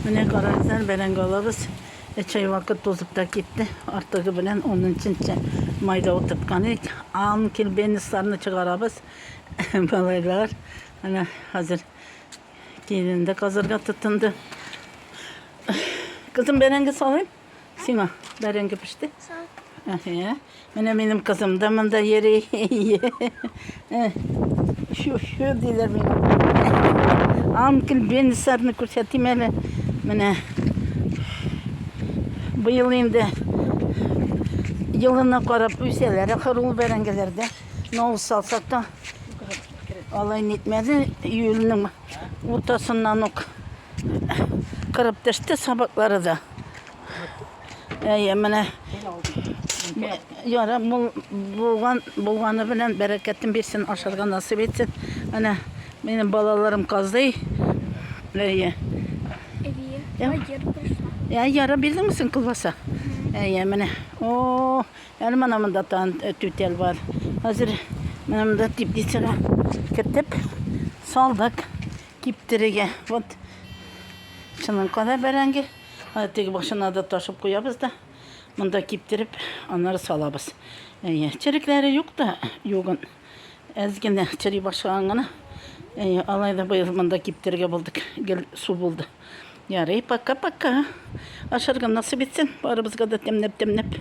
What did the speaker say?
Менә карагызлар, бәрәңге алабыз. Өч ай вакыт тузып та китте. Артыгы белән унынчынчы майда утырткан идек. Ан килбенисларны чыгарабыз. Малайлар менә хәзер киленде казырга тотынды. Кызым, бәрәңге салыйм? Сима, бәрәңге пеште. Әһә. Менә минем кызым да монда йөри. Шу, шу диләр минем. Анкл Бенисарны күрсәтим әле. Менә быел инде елына карап үсәләр ахыр ул бәрәңгеләрдә. Нал салсак та алай нитмәде. Июльнең Уртасыннан ук кырып төште сабаклары да. Әйе, менә яра мул булган булганы белән бәрәкәтен бирсен, ашарга насыйп итсен. Менә минем балаларым казый. Әйе. Әйе. Әйе, яра бирдеңме син колбаса? Әйе, менә. О, Әле менә монда тан э, түтәл бар. Хәзер менә монда теплицага кертеп салдык киптерергә. Вот шуның кадәр бәрәңге. Теге башына да ташып куябыз да. Монда киптереп, аннары салабыз. Әйе, черекләре юк та, югын. Әз генә чери башлаган гына. Әйе, алай да быел монда киптерергә булдык. Гел су булды. Ярый, пока-пока. Ашарга насыйп итсен, барыбызга да тәмләп-тәмләп.